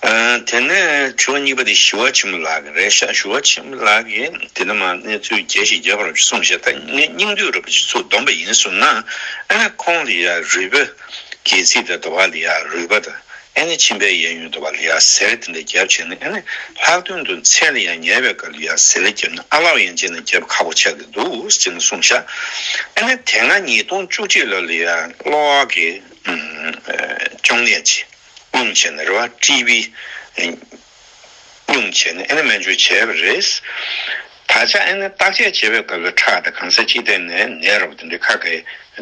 དེ་ནས་དྲི་བ་གཉིས་པ་དེ་ཞི་བ་ཆེན་པོ་ལགས་རེད་ཤག་ཞི་བ་ཆེན་པོ་ལགས་ཀྱིས་དེ་ལྟ་མ་གནས་ཚུལ་རྒྱས་ཤིག་རྒྱས་པ་རུ་སོང་ཞེས་ད་ངས་སྙིང་བསྡུས་རུ་བྱེད་ཚུལ་བསྡོམས་པ་ཡིན་གསུངས་ན་ཨ་ནེ་ཁོང་ལི་ཡ་རུས་པ་གྱིས་ཚིག་དེ་ཟླ་བ་ལི་ཡ་རུས་པ་དང་ཨ་ནེ་ཆིན་པའི་གཡས་གཡོན་ཟླ་བ་ལི་ཡ་ཟེར་དེ་འདྲ་རྒྱབ་བྱས་ནས་ཨ་ནེ་ལྷག་དོན་དུ་མཚན་ལི་ཡ་ཉལ་བའི་སྐབས་ལི་ཡ་ཟེར་ལ་རྒྱབ་ན་ཨ་ལའོ་ཡན་ཅན་ལ་རྒྱབ་ཁག་པོ་ཆགས་ཀྱི་འདུག་ཅེས་ན་གསུངས་ཤག་ཨ་ནེ་དེ་སྔ་ཉིས་སྟོང་བཅུ་གཅིག་ལོར་ལི་ཡ་གློག་བར་གྱི་གཅོང་ནད་ཇི། སྙུང་བྱས་ནས་རེ་བ་དཀྲིས་པའི་སྙུང་བྱས་ནས་ཨེ་ན་སྨན་བཅོས་བྱས་པ་རེད། ད་ཆ་ཨེ་ན་བརྟག་དཔྱད་བྱེད་པའི་སྐབས་སུ་ཁྲག་དེ་གང་ས་ཅི་སྟེང་ནས་ནད་རོ་དེ་འདྲའི་ཁ་གས་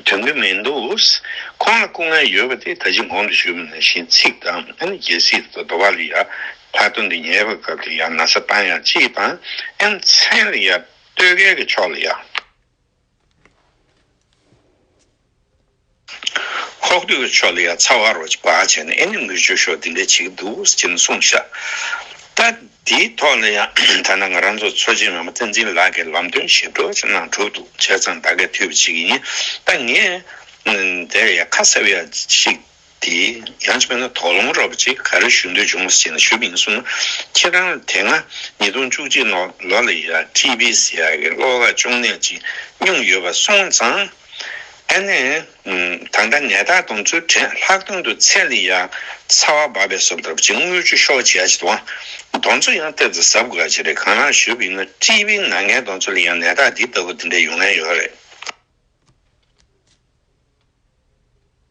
དོན་གྱི་མི་འདུག་ཁོང་ལ་སྐུ་ངལ་ཡོད་པ་དེ་ད་ཅི་འགོང་དུ་ཞུས་མི་ནུས་ཤིང་ཚིག་དང་ཨེ་ན་རྒྱལ་སྲིད་དུ་རྡོ་བ་ལ་ཡར་ལྷག་དོན་དུ་ཉལ་བའི་སྐབས་དེ་ཡང་ན་ས་བཏང་ཡང་ཅི་བཏང་ཨེ་ན་མཚན་ལ་ཡར་ལྟོས་གལ་གྱི་ཕྱོགས་ལ་ཡར། ཁོག་སྟོད་ཕྱོགས་ལ་ཡང་ཚ་བ་རོ་གཅིག་བག་བྱས་ནས་ཨེ་ནི་མི་ཆོས་ཤོག་འདི་འདྲ་བྱེད་ཀྱི་འདུག་ཅེས་ནས་གསུངས་ཤག་ད། དེའི་ཐོག་ལ་ཡང་ཐ་ན་ང་རང་ཚོ་ཚོགས་ཆེན་ཡོངས་མ་བསྟན་འཛིན་ལགས་ཀྱིས་ལམ་སྟོན་ཞིབ་ཏོག་ཅིག་གནང་གྲུབ་འདུག་བྱས་ཙང་ད་གས་ཐུས་པ་ཅིག་ཡིན་ད་ངས། དེར་ཡང་ཁ་གསབ་ཡག་ཅིག་དེ་ཡང་བྱས་ན་དོགས་སློང་རོགས་པ་ཅིག་ག་རེ་ཞུ་འདོད་བྱུང་བ་ཞིག་ན་ཞུ་མིན་གསུངས་ན་ཁྱེད་རང་ལ་དེ་སྔ་ཉིས་སྟོང་བཅུ་གཅིག་ནོ་ལོ་ལ་ཡི་ར་ཀྲི་བི་སི་ཡ་གི་གློག་ལ་གཅོང་ནད་ཅིག་བསྙུངས་ཡོད་པ་སོང་ཙང། ཨ་ནེ། ད་ལྟ་ནད་རྟགས་དང་ཚུལ་བྲན་ལྷག་དོན་དུ་ཚད་ལས་ཡ་ཚ་བ་འབབ་པའི་སོབ་ལྟ་བུ་ཅིག་རྔུལ་ཆུ་ཤོག་བྱས་ཅིག་དང་རྡོ་མཚོ་ཡང་སྟབས་ཀྱི་ཟབ་དགོས་ཅིག་རེད་གང་ལགས་ཞུ་བི་ན་ཀྲི་བི་ན་ངའི་རྡོ་མཚོ་ལ་ཡང་ནད་རྟགས་འདི་ལྟ་བུ་འདི་འདྲ་ཡོང་ངེས་ཡོད་རེད།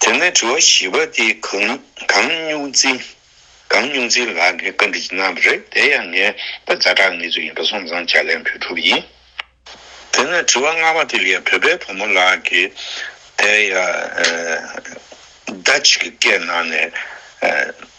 དེ་ནས་དྲི་བ་བཞི་པ་དེ་གང་སྨྱུག་འཛིན་གང་སྨྱུག་འཛིན་ལགས་ནས་བཀའ་འདྲི་གནང་བ་རེད་དེ་ཡང་ངས་ད་རྫ་དྲག་ངེས་ཚོ་ཡིན་པ་སོང་ཙང་ཇག་ལན་བུ་ཕྲུག་ཡིན། དེ་ནས་དྲི་བ་ལྔ་པ་དེ་ཡང་བོད་པའི་བུ་མོ་ལགས་ཀྱི་དེ་ཡང་ཟླ་གཅིག་གི་སྐད་ནང་ནས།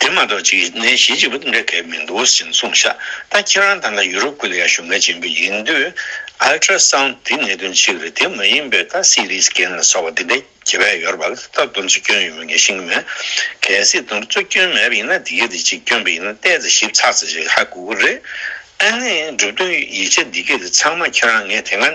དེ་མ་གཏོགས་ཅིག་ནས་གཞི་གཅིག་པོ་འདི་འདྲ་གལ་མི་འདུག་ཟེར་གསུངས་ཤག་ད་ཁྱེད་རང་ཐང་ཀ་ཡུ་རོབ་ཀུན་ལ་ཡང་བཞུགས་མཁན་ཆེན་པོ་ཡིན་དུས Ultra Sound དེ་གནད་དོན་ཅིག་རེད་དེ་མ་ཡིན་པའི་ད CT Scan ལ་སོགས་པ་འདི་འདྲ་གྱི་བལ་ཡོར་བ་ལ་ད་སྟབས་བསྡོམས་རྩོད་སྐྱོན་ཡོད་མེད་ངས་ཤེས་ཀྱི་མེད་གལ་སྲིད་སྡོམ་རྩོད་སྐྱོན་མེད་པ་ཡིན་ན་དེ་ག་དེ་ཅིག་སྐྱོན་པ་ཡིན་ན་བལྟས་ཚེ་ཞིབ་ཚགས་ཚེ་ཞིག་ཧ་གོ་གི་རེད་ཨ་ནི་གྲུབ་དོན་ཡིག་ཆ་འདི་ག་དེ་ཚང་མ་ཁྱེད་རང་ངས་དེ་སྔ།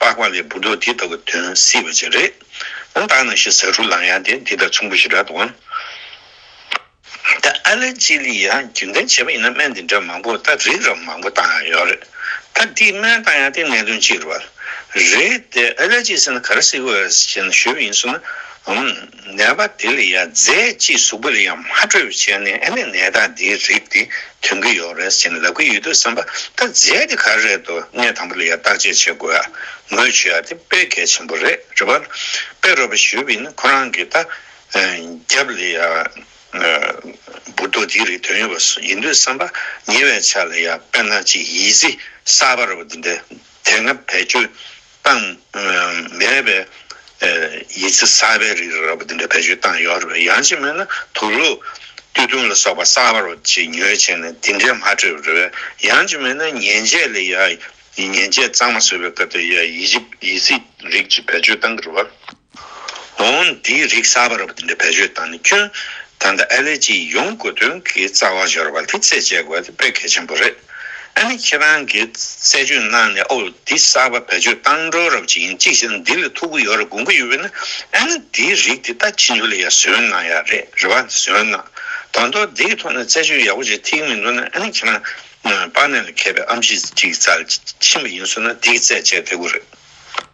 པགས་པ་ལས་འབུ་མདོག་དེ་ལྟ་བུ་འདོན་སྲིད་པ་ཅིག་རེད། ད་ལྟ་ནང་བཞིན་ཟ་ཧྲུ་ལང་ཡང་དེ་འདི་དང་མཚུངས་པོ་ཞིག་རེད་དོ། ད་ཨ་ལེ་ཅི་ལི་ཡང་རྒྱུན་ལྡན་བྱས་པ་ཡིན་ན་སྨན་འདི་འདྲ་མང་པོ་ད་རིགས་རམ་མང་པོ་བཏང་ཡང་ཡོད་རེད། ད་འདིས་སྨན་བཏང་ཡང་དེ་གནད་དོན་གཅིག་རེད། དེ་ཨ་ལེ་ཅི་ཟེར་ན་ག་རེ་སྲིད་ཀྱི་བཞིན་ཞུས་པ་ཡིན་སོང་ན། ནད་པ་དེ་ལ་ཡང་རྫས་གཅིག་གཟུགས་པོ་ལ་ཡང་མ་སྤྲོད་པར་བྱས་ནས་ཨ་ནི་ནད་རྟགས་འདིའི་རིགས་དེ་འཐོན་གྱི་ཡོད་རེད་ཅེས་ལབ་ཀྱི་ཡོད་དུས་སེམས་པ་ད་རྫས་དེ་ག་རེད་དོ་གནད་དང་པོ་ལ་ཡང་བརྟག་དཔྱད་བྱེད་དགོས་ཡ་ངོས་ཆུ་ཡ་དེ་དཔེ་གལ་ཆེན་པོ་རེད་རེད་པ་དཔེ་རོ་པ་ཞུས་པའི་ནི་ཁོ་རང་གིས་ད་རྒྱབ་ལ་ཡང་འབུར་ཏོ་དེའི་རིགས་འཐོན་ཡོད་པ་ཡིན་དུས་སེམས་པ་ཉེ་བའི་ཆ་ལ་ཡང་དཔེ་ན་གཅིག་ཡིད་གཟིགས་གསར་པ་རོ་པ་འདི་འདྲ་དེ་སྔ་བེད་སྤྱོད་བཏང། མེད་པའི་ཡིད་ཆུ་གསར་པའི་རིགས་རགས་པ་འདི་འདྲ་བེད་སྤྱོད་བཏང་ཡོད་རེད་པས་ཡང་ཅིག་མེད་ན་དུག་ལུད། བསྟུད་བཏུང་ལ་སོགས་པ་གསར་པ་རོ་གཅིག་ཉོས་བྱས་ནས་འདི་འདྲས་མ་སྤྲོད་པ་རེད་པས་ཡང་ཅིག་མེད་ན་ཉེན་ཆད་ལས་ཡག་ཉེན་ཆད་གཙང་མ་བཟོས་པའི་སྐབས་དེར་ཡིད་ཆུ་ཡིད་ཟིག་རིགས་གཅིག་བེད་སྤྱོད་བཏང་གི་རེད་པ། འོན་ཏེ་རིགས་གསར་པར་བརྒྱུད་པའི་བེད་སྤྱོད་དང་ནི་སྐྱོན་དང་དང་ཨེ་ལེ་ཅི་ཡོང་དགོས་དོན་གྱི་རྩ་བ་འབྱོར་བ་དེ་རྩད་བཅད་དགོས་དཔེ་གལ་ཆེན་པོ་རེད། ཨ་ནི་ཁྱེད་རང་གིས་རྩད་གཅོད་གནང་ནས་ཨོ་འདི་གསར་པ་བེད་སྤྱོད་བཏང་འགྲོ་རབས་ཅིག་ཡིན་ཅིག་ཤེས་ན་འདི་ལས་ཐུག་གི་ཡོད་རེད་དགོངས་ཀྱི་ཡོད་པས་ན་ཨ་ནི་འདི་རིགས་དེ་ལྟ་ཅི་འགྱུར་ལ་ཡ་ཟོན་གནང་ཡ་རེད་རེ་བ་འདི་ཟོན་གནང། དང་ཐོག་འདི་གི་ཐོག་ནས་རྩད་གཅོད་ཡག་པོ་བྱེད་ཐིག་མི་འདུག་ན་ཨ་ནི་ཁྱེད་རང་པར་ནད་ལ་མཁས་པའི་ཨམ་ཆིས་ཅིག་རྩ་ལ་ཕྱིན་པ་ཡིན་ཟོན་ན་འདི་གི་རྩད་བཅད་དེ་དགོས་རེད།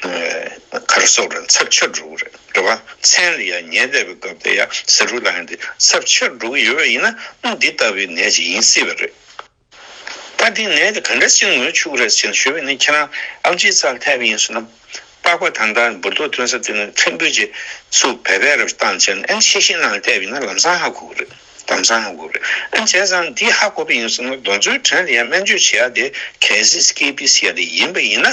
གར་སོགས་རེད་ཚབས་ཆེར་འགྲོ་གི་རེད་རེད་བ། མཚན་རེ་ཡ་ཉལ་བསྡད་པའི་སྐབས་དེ་ཡ་ཟེར་རུ་ལ་ཡང་དེ་ཚབས་ཆེར་འགྲོ་གི་ཡོད་པ་ཡིན་ན་འདི་ལྟ་བུའི་ནད་ཅིག་ཡིན་སྲིད་པ་རེད། ད་དེ་ནད་དེ་ག་འདྲ་ཞིག་ངོས་ཆུག་རེད་ཅེས་ཞུས་པ་ནི་ཁྱེད་རང་ཨམ་ཆིའི་ཚ་ལྷད་པ་ཡིན་སྲིད་ནམ། པགས་པ་དང་དང་འབུར་ཏོ་ཐོན་ས་དེ་ནི་ཕྲན་བུ་ཅིག་སུ་བས་བས་རབ་བཏང་བྱས་ན་ཨེ་ཤེས་ཤིང་ནང་བསྡད་པ་ཡིན་ན་ལམ་སང་ཧ་གོ་གི་རེད་ལམ་སང་ཧ་གོ་གི་རེད་ཨེ་བྱས་ཙང་འདི་ཧ་གོ་པ་ཡིན་སྲིད་ན་གདོན་ཚོའི་བྲན་རེ་ཡ་སྨན་བཅོས་བྱེད་ཡ་དེ་གལ་སྲིད་སྐེ་པི་སི་ཡ་དེ་ཡིན་པ་ཡིན་ན།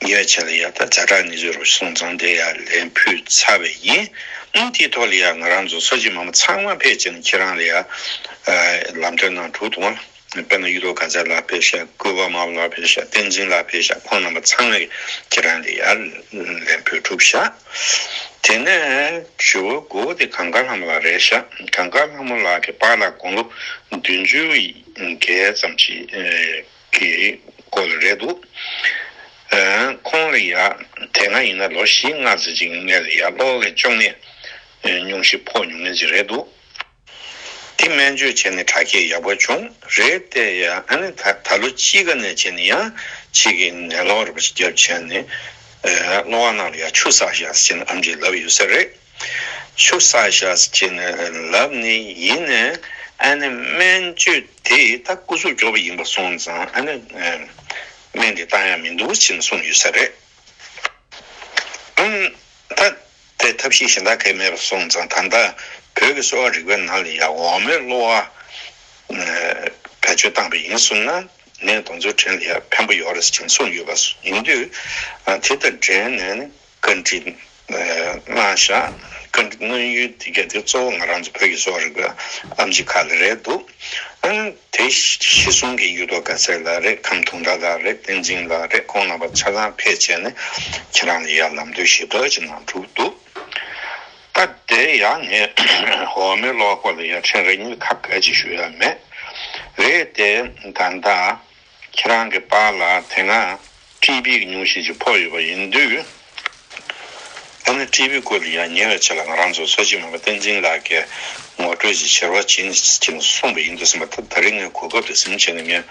ཉོས་ཆ་ལ་ཡག་ད་ཛ་ཀྲ་ནི་ཟོས་རོགས་སོང་ཙང་དེ་ཡང་ལན་ཕུལ་ཚར་བས་ཡིན་ཨང་དེའི་ཐོག་ལ་ཡང་ང་རང་ཚོ་ཚོ་གཅིག་མ་མོ་ཚང་མ་ཕེབས་ཅེ་ན་ཁྱེད་རང་ལ་ཡང་ལམ་སྟོན་གནང་འགྲོ་འདུག་དཔེར་ན་གཡུ་ཐོག་དགའ་ཚལ་ལགས་ཕེབས་ཤག་སྐུ་པ་མ་བུ་ལགས་ཕེབས་ཤག་བསྟན་འཛིན་ལགས་ཕེབས་ཤག་ཁོང་རྣམ་པ་ཚང་མས་ཁྱེད་རང་ལ་ཡང་ལན་ཕུལ་གྲུབ་ཤག་དེ་ནས་ཇོ་བོའི་མགོ་བོ་དེ་གངས་དཀར་ལྷ་མོ་ལགས་རེད་ཤག་གངས་དཀར་ལྷ་མོ་ལགས་ཀྱི་པཱ་ལགས་དགུང་ལོ་བདུན་ཅུ་འགལ་ཙམ་ཞིག་རེད། གི་སྐོར་ལ་རེད་འདུག་ཁོང་ལ་ཡ་དེ་སྔ་ཡིན་ན་ལོ་བཞི་ལྔ་ཟིན་ཅིང་ངས་ལ་ཡ་གློག་ཀླད་གཅོང་ནད་ཉུང་ཤས་ཕོག་མྱོང་མཁན་ཞིག་རེད་འདུག་དེ་སྨན་བཅོས་བྱས་ནས་དྲག་སྐྱེད་ཡག་པོ་བྱུང་རེད་དེ་ཡ་ཨ་ནི་ད་ལོ་དཔྱིད་ཀ་ནས་བྱས་ནས་ཡ་ཕྱི་གི་ནད་གློག་རེད་པ་ཞིག་བརྒྱབ་བྱས་ནས་གློག་ཨ་ནང་ལ་ཡ་ཆུ་ཟགས་ཤ་ཟ་བྱས་ནས་ཨམ་ཆིས་ལབ་ཡོད་ས་རེད། ཆུ་སྲ་ཤ་ཟ་བྱེད་ནས་ལབ་ནི་ཡིན་ནས་ཨ་ནེ་སྨན་བཅོས་དེས་ད་སྐུ་གཟུགས་འགྱོགས་པ་ཡིན་པར་སོང་ཙང་ཨ་ནེ་སྨན་དེ་བཏང་ཡག་མི་འདུག་ཅེས་གསུངས་ཡོད་ས་རེད། ད་ལྟའི་ཐབས་ཤེས་གཞན་དག་གས་མེད་པར་སོང་ཙང་ད་ལྟ་བོད་ཀྱི་གསོ་བ་རིག་པའི་ནང་ལ་ཡག་འོག་མའི་གློ་བ་བེད་སྤྱོད་བཏང་པས་ཡིན་གསུངས་ན་ནས་གདོང་ཚུལ་དྲན་ལ་ཡག་ཕན་པོ་ཡོད་རེད་ཅེས་གསུངས་ཡོད་པ་ཡིན་དུས་དེ་དང་འབྲེལ་ནས་བཀའ་འདྲི། སྔ་བཞག་བཀའ་འདྲི་གནང་ཡུལ་དེ་ག་དེ་གཙོ་བོ་ང་རང་ཚོ་བོད་ཀྱི་གཙོ་བོ་རིག་པའི་ཨམ་ཆི་ཁ་ལ་རེད་འདུག་དེ་ཞི་གསུམ་གྱི་གཡུ་ཐོག་ག་ཚད་ལ་རེད་ཁམས་དུང་དགྲ་ལ་རེད་བསྟན་འཛིན་ལ་རེད་ཁོང་རྣམ་པ་ཆ་ཚང་ཕེད་བྱས་ནས་ཁྱེད་རང་ལ་ཡར་ལམ་དོད་ཞི་དོད་ཅིག་གནང་གྲུབ་འདུག་སྐབས་དེ་ཡ་ངས་འོ་མའི་གློག་སྐོར་ལ་ཡར་འཕྲིན་རེ་གཉིས་ཁ་བགད་ཅིག་ཞུ་ཡ་མེད་རེད་དེ་ད་ལྟ་ཁྱེད་རང་གི་པར་ལ་དེ་སྔ་ཀྲི་པིའི་ཉུང་ཤས་ཅིག་ཕོག་ཡོད་པ་ཡིན་དུས། ད་ནི་ཀྲི་པིའི་སྐོར་ཡང་ཉེ་བའི་ཆ་ལ་ང་རང་ཚོ་ཚོགས་སྤྱི་མ་པ་བསྟན་འཛིན་ལགས་ཀྱིས་ངོ་སྤྲོད་ཅིག་བྱེད་རོགས་བྱིན་ཅིག་གསུངས་པ་ཡིན་འདུག་ཟེར་མ་ཐག་ད་རེས་ངས་གོ་སྐབས་དེ་གཟིམ་བྱས་ནས་ངས་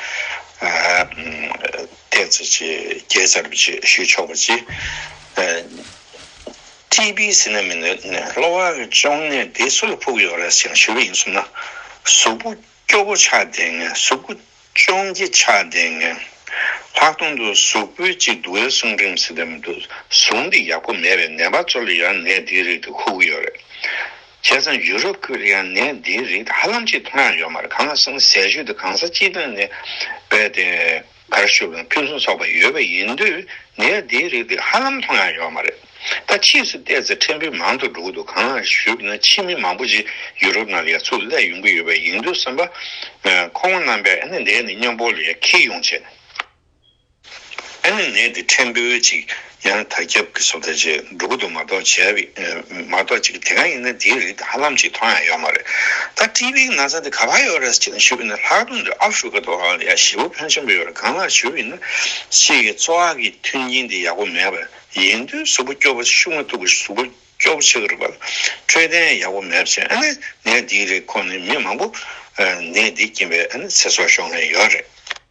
བལྟས་ཚེ་ཅེས་རྒྱས་བཅར་བ་ཅིག་ཞུས་ཆོག་པ་ཅི། ཀྲི་པིའི་ཟི་ན་མི་ནི་གློ་བ་གཅོང་ནད་དེ་སུ་ལ་ཕོག་ཡོད་རེད་ཅེས་ཞུས་པ་ཡིན་གསུངས་ན་གཟུགས་པོ། སྐྱོ་པོ་ཆགས་བསྡད་ངན་གཟུགས་པོ་ཅོང་སྐྱི་ཆགས་བསྡད་ངན། ལྷག་དོན་དུ་གཟུགས་པོའི་གཅིག་འདུག་ཨེ་སུང་རིམ་བསྲེ་དེ་མི་འདུག་གཟུགས་འདི་ཡག་པོ་མེད་པས་ནད་པ་ཚོ་ལ་ཡང་ནད་འདིའི་རིགས་དེ་ཁུག་གི་ཡོད་རེད། བྱས་ཙང་ཡུ་རོབ་ཁུལ་ལ་ཡང་ནད་འདིའི་རིགས་དེ་ཧ་ལམ་གཅིག་མཐོང་ཡང་ཡོད་མ་རེད་གང་ལ་སོང་ཟས་ཞུ་དེ་གང་ས་སྤྱི་དོན་ནས་བས་ཏེ། གར་ཞུ་བའི་ཕུན་སུམ་ཚོགས་པ་ཡོད་པ་ཡིན་དུས་ངས་འདིའི་རིགས་འདི་ཧ་ལམ་མཐོང་ཡང་ཡོད་མ་རེད། ད་ཕྱིས་སུ་བལྟས་ཚེ་ཕྲན་བུ་མང་དུ་འགྲོ་གི་འདུག་གང་ལགས་ཞུས་པ་ན་ཕྱི་མི་མང་པོ་ཞིག་ཡུ་རོབ་ནང་ལ་ཡར་ཚུར་སླེབས་ཡོང་གི་ཡོད་པ་ཡིན་དུས་བསམ་པ། ཁོ་བོ་རྣམ་པས་ཨ་ནི་འདས་ནས་སྨྱོ་འབོག་ལས་ཁེ་ཡོང་བྱས། ཨ་ནི་ནད་འདི་ཕྲན་བུ་ཅིག། ཡང་དག་སྐྱབས་ཀྱི་སོགས་ཐ་ཆད་འགྲོ་ཀུན་ཏུ་མ་གཏོགས་བྱས་པའི་མ་གཏོགས་ཅིག་དེ་གང་ཡིན་ན་དེའི་རིགས་དང་ཧ་ལམ་ཅིག་མཐོང་ཡང་ཡོད་མ་རེད་ད་བཀྲིས་པའི་ན་ཚ་འདི་ག་བ་ཡོད་རེད་ཅེས་ན་ཞུ་བས་ན་ལྷག་དོན་དུ་ཨ་ཧྥུ་རི་ཀ་དོ་ཧ་ལ་ཡ་ཞེ་བོ་ཕོན་ཆེན་པོ་ཡོད་རེད་གང་ལགས་ཞུ་བས་ན་ཕྱིས་ཀྱི་འཚོ་བ་གི་མཐུན་རྐྱེན་དེ་ཡག་པོ་མེད་པ་ཡིན་དུས་གཟུགས་པོ་སྐྱོ་བོ་ཤུགས་མ་ཐུབ་པ་གཟུགས་པོ་སྐྱོ་བོ་ཆགས་རེད་པ་འཕྲོད་བསྟེན་ཡག་པོ་མེད་པ་བྱས་ནས་ནད་འདིའི་རིགས་ཁོ་ནས་མི་མང་པོ་ནད་འདིས་རྐྱེན་པས་ཚེ་སྲོག་ཤོར་མཁན་ཡོད་རེད།